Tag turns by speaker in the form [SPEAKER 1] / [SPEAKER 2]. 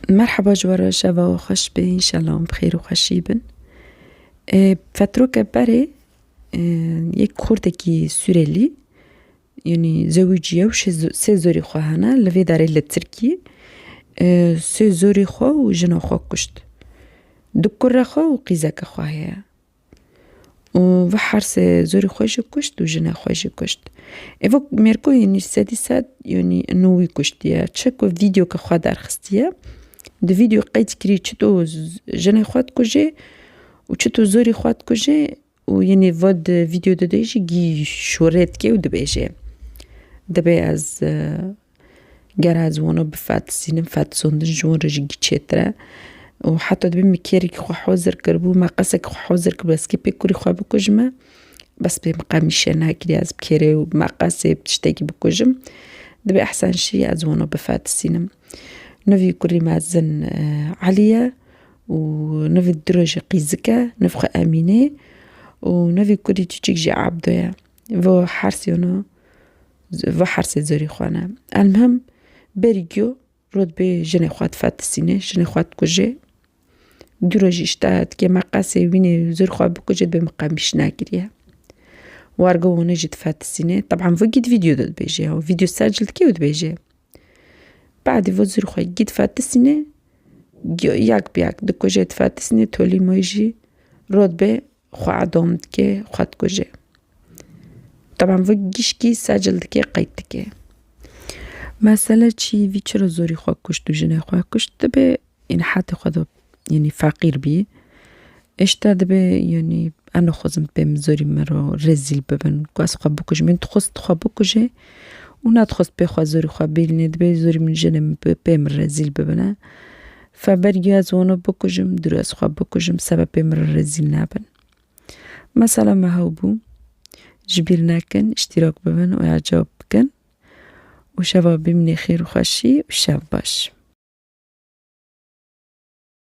[SPEAKER 1] Merheba ji we re şeva we xweş be înşela em bi xêr û xweşî bin. Fetroke berê yek kurdekî sûrelî yanî zewicî ye û sê zorî xwe hene li vê derê li tirkî sê zorî xwe û jina xwe kuşt. Du kure xwe û qîzeke xwe heye. û vê hersê zorî xwe jî kuşt û jinê xwe jî kuşt. Evo mêrgo yenî sedî sed yenî nû wî kuştiye. Çi ku vîdyo ke xwe derxistiye, di vîdyoyê qeyd kirî çi tu jinê xwe dikujê û çi tu zorî xwe dikujê û yenî va di vîdyoyê de jî gî şûrê dike û dibêje. Divê ez Ger ez wano bifetisînim, fetisondin ji wan re jî giçêtir e û heta dibê min kêrikî xwe hozir kiribû, me qesekî xwe hozir kiribû ez kê pê kurî xwe bikujime, bes pê min qe mîşe nekiriye ez bi kêrê û meqesê bi tiştekî bikujim. Dibê ehsen şî ez wano bifetisînim. Nivî kurî mezin Elî ye û nivî du rojî qîzik e, niv xwe Emîne û nivî kurî kîçik jî Ebdo ye. Vo her sêno. va hersê zerî xwe ne. Elmhim berî giyo rotbê jinê xwe difetisînê, jinê xwe dikujê. Du roj îşta dikê me qesê wînê zir xwe bikuje dibê min qemîş nekiriye. Warga wan jî difetisînê. Teban va gît vîdeo de dibêje ew. Vîdeo ser cil dikê û dibêje. Badî va zir xwe gît fetisînê, yak bi yak dikujê difetisînê tolî moy jî rotbê xwe edom dike, xwe dikuje. Taban vê gişkî secil dike qeyt dike. Mesele çi vî çira zorî xwe kuşt û jinê xwe kuşt dibe yanî hetê xwe de yanî feqîr bî. Hişta dibe yanî em nexwazin pê min zorî min re rezîl bibin ku ez xwe bikujim. Min dixwest xwe bikuje û nadixwest pê xwe zorî xwe bîlnê, dibê zorî min jinê min bi pê min re zîl bibine. Feber giya ez wano bikujim, dûr ez xwe bikujim seba pê min re rezîl nabin. Mesela me hew bû, ji bîr nekin, îştîrak bibin û ya cewab bikin û şeva bîmnê xêr û xweşî û şev baş.